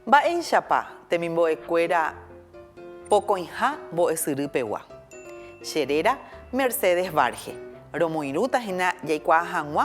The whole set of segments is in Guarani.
Mba'éichapa temimbo'ekuéra pokõiha mbo'esyry pegua? Che réra Mercedes Varge, Romoirũta hína jaikuaa hag̃ua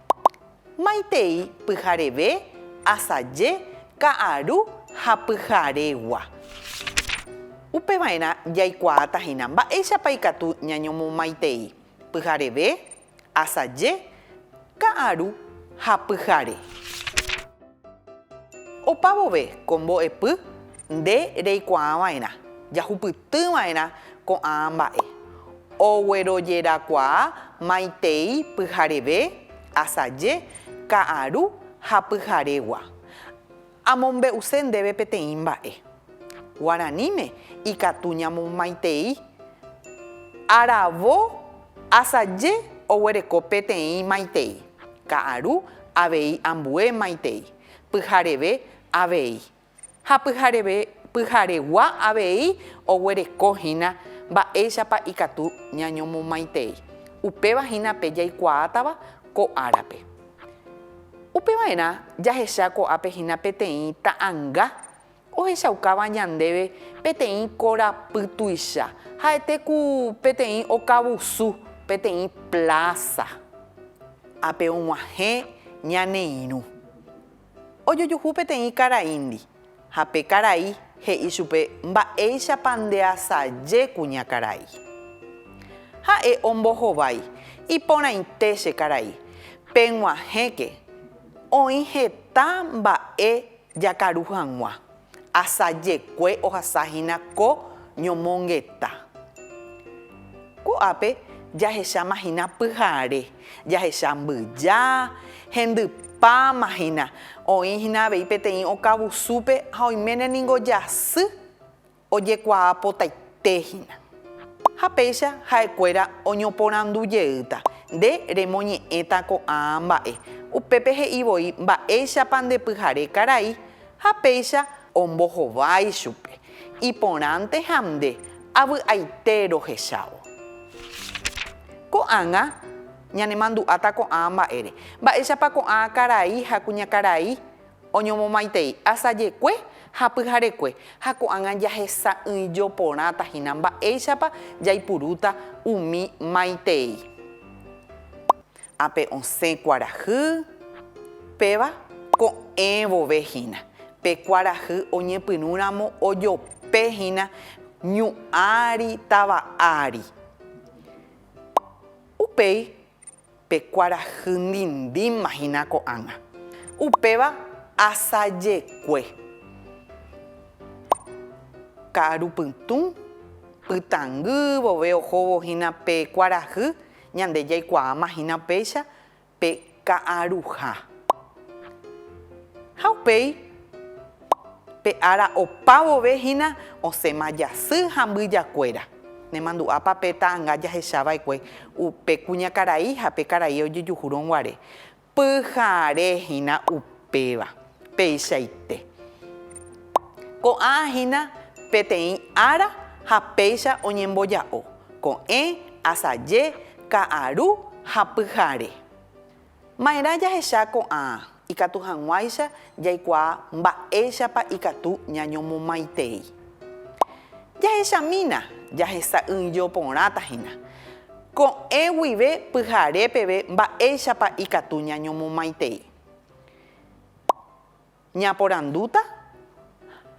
Maitei pyhareve, asaje, ka'aru ha pyharegua. Upeva'erã jaikuaáta hína mba'éichapa ikatu ñañomomaitei pyhareve, asaje, ka'aru ha pyhare. Opa vove ko mbo'epy nde reikuaa va'erã, jahupyty va'erã ko'ã mba'e. Oguerojerakuaa maitei pyhareve, asaje, ka'aru ha pyharegua. Amombe'use ndéve peteĩ mba'e. Guaraníme ikatu ñamomaitei. Aravo asaje oguereko peteĩ maitei. Ka'aru avei ambue maitei. Pyhareve avei. Ha pyhareve, pyharegua avei oguereko hína mba'éichapa ikatu ñañomomaitei. Upéva hína pe jaikuaátava ko árape. Upeva'erã jahecha ko'ápe hína peteĩ ta'anga Ohechaukáva ñandéve peteĩ korapy tuicha, ha'ete ku peteĩ okavusu peteĩ plása. Ápe og̃uahẽ ñane irũ. Ojojuhu peteĩ karaíndi, ha pe karai he'i chupe mba'éichapa ndeasaje kuña karai. Ha'e ombohovái, Iporãite che karai, peg̃uahẽke, oĩ heta mba'e Jakaru hag̃ua, asajekue ohasa hína ko ñomongeta. Ko'ápe jahecháma hína pyhare, jahecha mbyja, hendypáma hína, oĩ hína avei peteĩ okavusúpe ha oiméne ningo jasy Ojekuaapotaite hína. Ha péicha ha'ekuéra oñoporandu jeýta, Nde remoñe'ẽta ko'ã mba'e, upépe he'i voi mba'éichapa nde pyhare karai, ha péicha ombohovái chupe, Iporãnte ha nde, avy'aite rohechávo. Ko'ág̃a ñanemandu'áta ko'ã mba'ére, mba'éichapa ko'ã karai ha kuñakarai Oñomomaitei asajekue ha pyharekue, ha ko'ág̃a jahesa'ỹijo porãta hína mba'éichapa jaipurúta umi maitei. Ápe osẽ kuarahy péva ko'ẽ vove hína, pe kuarahy oñepyrũramo ojope hína ñu ári, tava ári. Upéi. Pe kuarahy ndindíma hína ko'ág̃a. Upéva asajekue. Ka'aru pytũ, pytãngy vove ohóvo hína pe kuarahy, ñande jaikuaáma hína upéicha pe ka'aruha. Ha upéi pe ára opa vove hína osẽma jasy ha mbyjakuéra. Nemandu'ápa pe ta'anga jahechava'ekue upe kuñakarai ha pe karai ojejuhúrõ guare? Pyhare hína upéva, peichaite. Ko'ã hína peteĩ ára ha péicha oñemboja'o, ko'ẽ, asaje, ka'aru ha pyhare. Ma'erã jahecha ko'ã ikatu hag̃uáicha jaikuaa mba'éichapa ikatu ñañomomaitei. Jahechamína jahesa'ỹijo porãta hína, ko'ẽ guive pyhare peve mba'éichapa ikatu ñañomomaitei. Ñaporandúta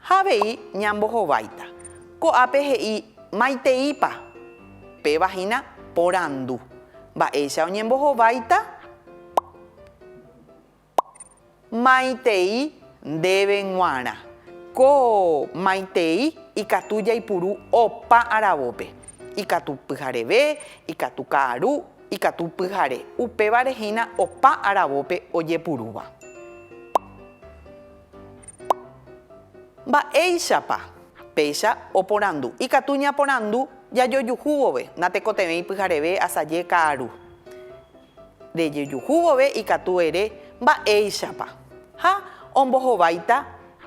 ha avei ñambohováita. Ko'ápe he'i maiteípa? Péva hína porandu. Mba'éicha oñembohováita? Maitei ndéve g̃uarã. Ko maitei ikatu jaipuru opa aravópe, ikatu pyhareve, ikatu ka'aru, Ikatu pyhare. Upévare hína opa aravópe ojepurúva. Mba'éichapa? Péicha oporandu. Ikatu ñaporandu jajojuhu vove. Natekotevẽi pyhareve asaje ka'aru. Rejejuhu vove ikatu ere mba'éichapa. Ha ombohováita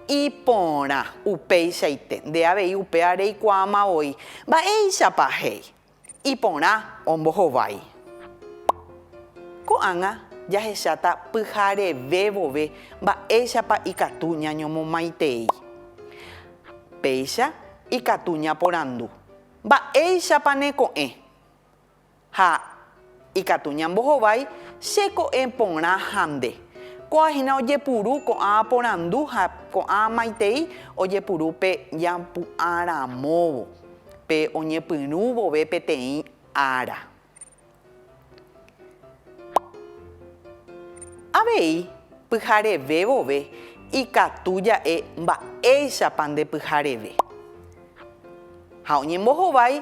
iporã. Upéichaite. Nde avei upéva reikuaáma voi. Mba'éichapa? He'i. Iporã ombohovái. Ko'ág̃a jahecháta pyhareve vove mba'éichapa ikatu ñañomomaitei. Péicha ikatu ñaporandu, Mba'éichapa neko'ẽ? ha Ikatu ñambohovái che ko'ẽ porã ha nde. Ko'ã hína ojepuru ko'ã porandu ha ko'ã maitei ojepuru pe ñampu'ã ramóvo, pe oñepyrũ vove peteĩ ára. Avei pyhareve vove ikatu ja'e mba'éichapa nde pyhareve. Ha oñembohovái.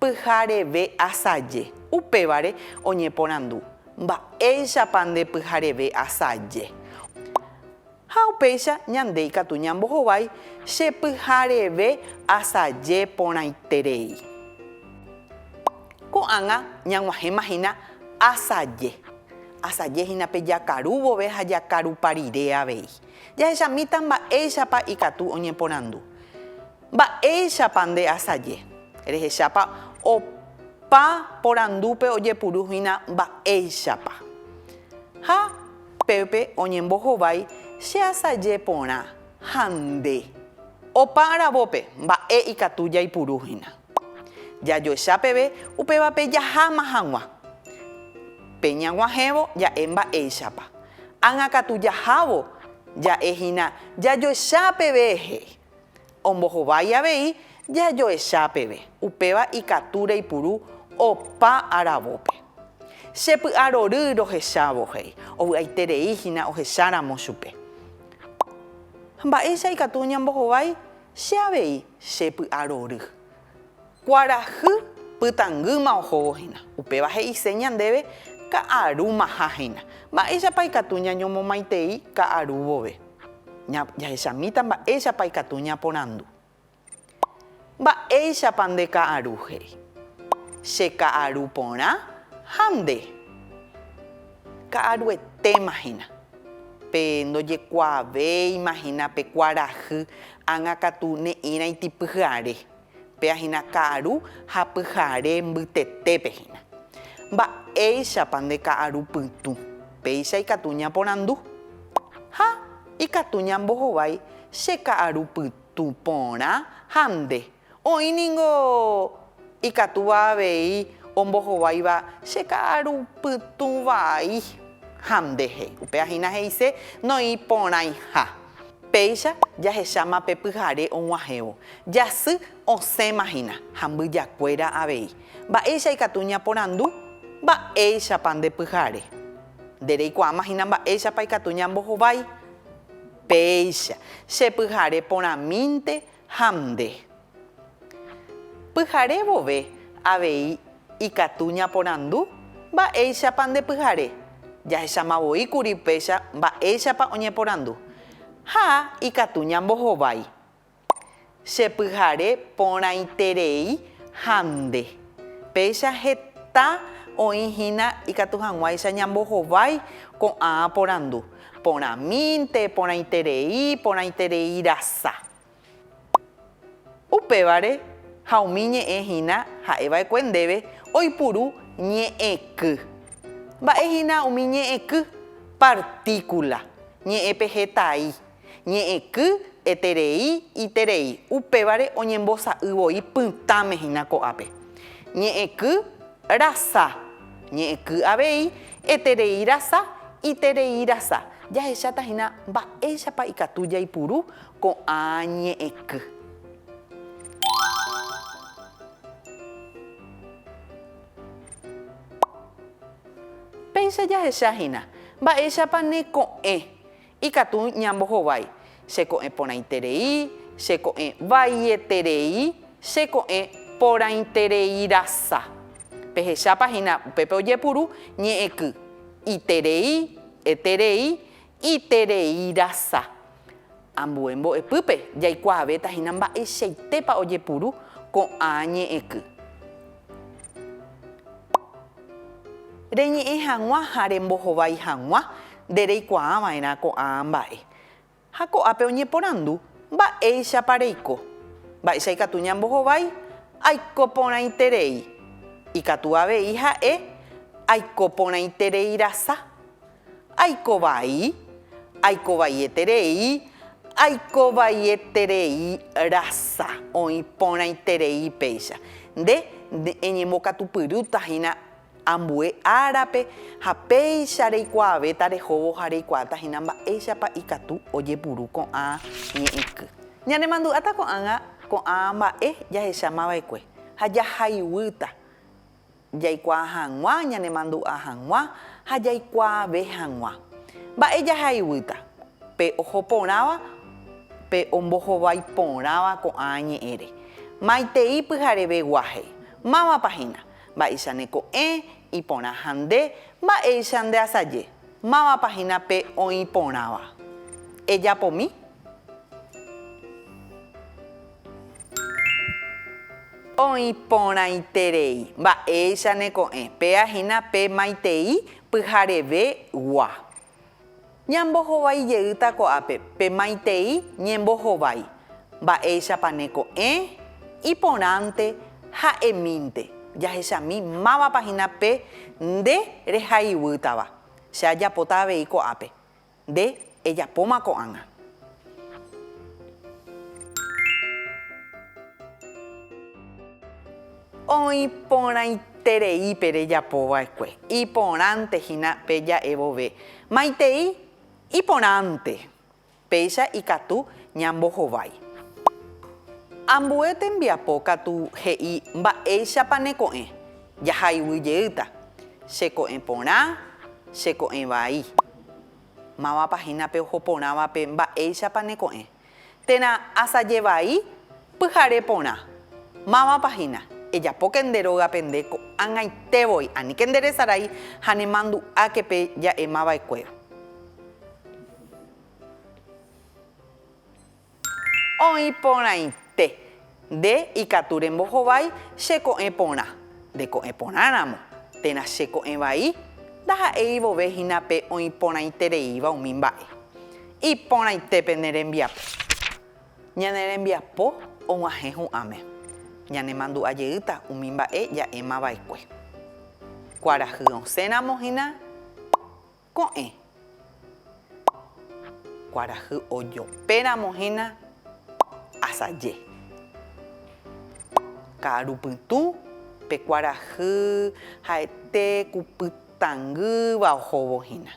Pyhareve asaje. Upévare oñeporandu, Mba'éichapa nde pyhareve asaje? Ha upéicha ñande ikatu ñambohovái che pyhareve asaje porãiterei. Ko'ág̃a ñag̃uahẽma hína asaje. Asaje hína pe jakaru vove ha jakarupa rire avei. Jahechamíta mba'éichapa ikatu oñeporandu. Mba'éichapa nde asaje? Rehechápa opa porandúpe ojepuru hína mba'éichapa. Ha pépe oñembohovái che asaje porã ha nde. Opa aravópe mba'e ikatu jaipuru hína. Jajoecha peve upévape jaháma hag̃ua. Pe ñag̃uahẽvo ja'e mba'éichapa. Ág̃akatu jahávo ja'e hína jajoecha peve he'i. Ombohovái avei jajoecha peve, upéva ikatu reipuru opa aravópe. Che py'arory rohechávo, he'i, ovy'aiterei hína ohecháramo chupe. Mba'éicha ikatu ñambohovái che avei che py'arory? Kuarahy pytangýma ohóvo hína. Upéva he'ise ñandéve ka'arúmaha hína. Mba'éichapa ikatu ñañomomaitei ka'aru vove? Jahechamíta mba'éichapa ikatu ñaporandu. Mba'éichapa nde ka'aru he'i? Che ka'aru porã ha nde. Ka'aruetéma hína. Pe ndojekuaavéima hína pe kuarahy ág̃a katu ne'ĩraiti pyhare. Péa hína ka'aru ha pyhare mbytetépe hína. Mba'éichapa nde ka'aru pytũ? Péicha ikatu ñaporandu. Ha ikatu ñambohovái che ka'aru pytũ porã ha nde. Oĩ ningo ikatúva avei ombohováiva che ka'aru pytũ vai ha nde he'i. Upéva hína he'ise noĩ porãiha. Péicha jahecháma pe pyhare og̃uahẽvo, jasy osẽma hína ha mbyjakuéra avei. Mba'éicha ikatu ñaporandu, Mba'éichapa nde pyhare? Nde reikuaáma hína mba'éichapa ikatu ñambohovái. Péicha, che pyhare porãmínte ha nde. Pyhare vove avei ikatu ñaporandu mba'éichapa nde pyhare, jahecháma voi kuri péicha mba'éichapa oñeporandu, ha ikatu ñambohovái. Che pyhare porãiterei ha nde. Péicha heta oĩ hína ikatu hag̃uáicha ñambohovái ko'ã porandu, Porãmínte, porãiterei, porãitereirasa. Upévare ha umi ñe'ẽ hína ha'e va'ekue ndéve oipuru ñe'ẽky. Mba'e hína umi ñe'ẽky? Partíkula, ñe'ẽpe hetai, ñe'ẽky, eterei, iterei, upévare oñembosa'y voi pytãme hína ko'ápe. Ñe'ẽky rasa. Ñe'ẽky avei, eterei rasa, iterei rasa. Jahecháta hína mba'éichapa ikatu jaipuru ko'ã ñe'ẽky. Péicha jahecha hína mba'éichapa neko'ẽ Ikatu ñambohovái, che ko'ẽ porãiterei, che ko'ẽ vaieterei, che ko'ẽ porãitereirasa. Pehechápa hína upépe ojepuru ñe'ẽky, iterei, eterei, itereirasa. Ambue mbo'epýpe jaikuaavéta hína mba'eichaitépa ojepuru ko'ã ñe'ẽky. Reñe'ẽ hag̃ua ha rembohovái hag̃ua nde reikuaa va'erã ko'ã mba'e. Ha ko'ápe oñeporandu, Mba'éichapa reiko? Mba'éicha ikatu ñambohovái? Aiko porãiterei. Ikatu avei ha'e, Aiko porãitereirasa. Aiko vai, aiko vaieterei, aiko vaieterei rasa, oĩ porãiterei péicha. Nde eñembokatupyrýta hína ambue árape ha péicha reikuaavéta rehóvo ha reikuaáta hína mba'éichapa ikatu ojepuru ko'ã ñe'ẽky. Ñanemandu'áta ko'ág̃a ko'ã mba'e jahechámava'ekue ha jahayguýta Jaikuaa hag̃ua, ñanemandu'a hag̃ua ha jaikuaave hag̃ua. Mba'e jahaivýta pe oho porãva, pe ombohovái porãva ko'ã ñe'ẽre? Maitei pyhareve guaje. Mávapa hína? Mba'éicha ne ko'ẽ, iporã ha nde, mba'éicha nde asaje? Mávapa hína pe oĩ porãva? Ejapomi? Oĩ porãiterei mba'éicha ne ko'ẽ, péa hína pe maitei pyhareve gua. Ñambohovái jeýta ko'ápe pe maitei ñembohovái, mba'éichapa ne ko'ẽ, iporãnte ha emínte, jahechami mávapa hína pe nde rehaiguýtava. Che ajapóta avei ko'ápe, Nde ejapóma ko'ág̃a. Oĩ porãiterei pe rejapo va'ekue, iporãnte hína pe ja'e vove. Maitei iporãnte, péicha ikatu ñambohovái. Ambue tembiapo katu he'i mba'éichapa ne ko'ẽ, jahayguy jeýta, che ko'ẽ porã, che ko'ẽ vai. Máva pahínape oho porãvape mba'éichapa neko'ẽ. Térã asaje vai pyhare porã. Máva pahína, Ejapóke nde rógape nde ko'ag̃aite voi, aníke nde resarái ha nemandu'áke pe ja'emava'ekuéra. Oĩ porãite. Nde ikatu rembohovái che ko'ẽ porã. Nde ko'ẽ porã ramo, térã che ko'ẽ vai, ndaha'éi vove hína pe oĩ porãitereíva umi mba'e. Iporãite pene rembiapo. Ñane rembiapo og̃uahẽ hu'ãme. Ñanemandu'a jeýta umi mba'e ja'éma vaekue. Kuarahy osẽ ramo hína. Ko'ẽ. Kuarahy ojopéramo hína asaje. Ka'aru pytũ, pe kuarahy ha'ete ku pytangýva ohóvo hína.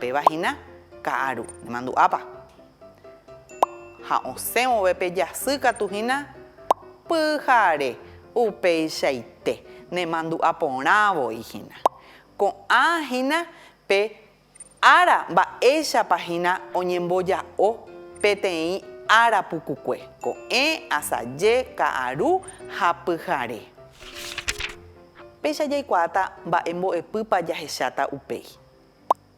Péva hína ka'aru, nemandu'ápa? Ha osẽ vove pe jasy katu hína pyhare upeichaite, nemandu'a porã voi hína. Ko'ã hína pe ára mba'éichapa hína oñemboja'o peteĩ ára pukukue, ko'ẽ, asaje, ka'aru ha pyhare. Péicha jaikuaáta mba'e mbo'epýpa jahecháta upéi.